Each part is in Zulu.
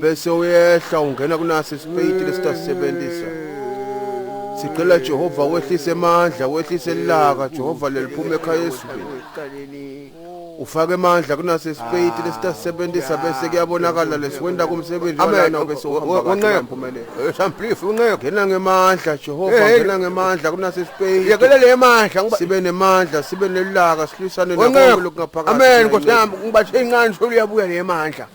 bese uyehla ungena kunaso isipeyiti lesitasisebenzisa sicela Jehova wehlise amandla wehlise ilaka Jehova leliphuma ekhaya esibini ufake amandla kunaso isipeyiti lesitasisebenzisa bese kuyabonakala lesiwenda kumsebenzi walana bese uhamba umphumele samplifu unqeka ngena ngemandla Jehova ngena ngemandla kunaso isipeyiti yekela le mandla sibe nemandla sibe nelaka silwisane nokho lokungaphakathi amen nkosi yami ngibathe incane sokuyabuya le mandla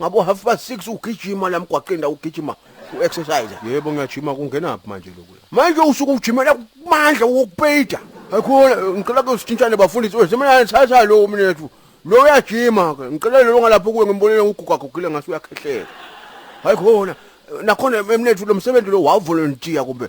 ngabo half past 6 ugijima la mgwaqeni la ugijima u-exercise yebo ngiyajima kungenaphi manje lokhu manje usuke ujimela kumandla wokupeyida akhona ngicela ke sithintane bafundisi wethu mina thatha lo mnethu lo uyajima ke ngicela lo ngalapho kuwe ngimbonile ugugagugile ngase uyakhehlela hayi khona nakhona emnethu lo msebenzi lo wavolunteer kumbe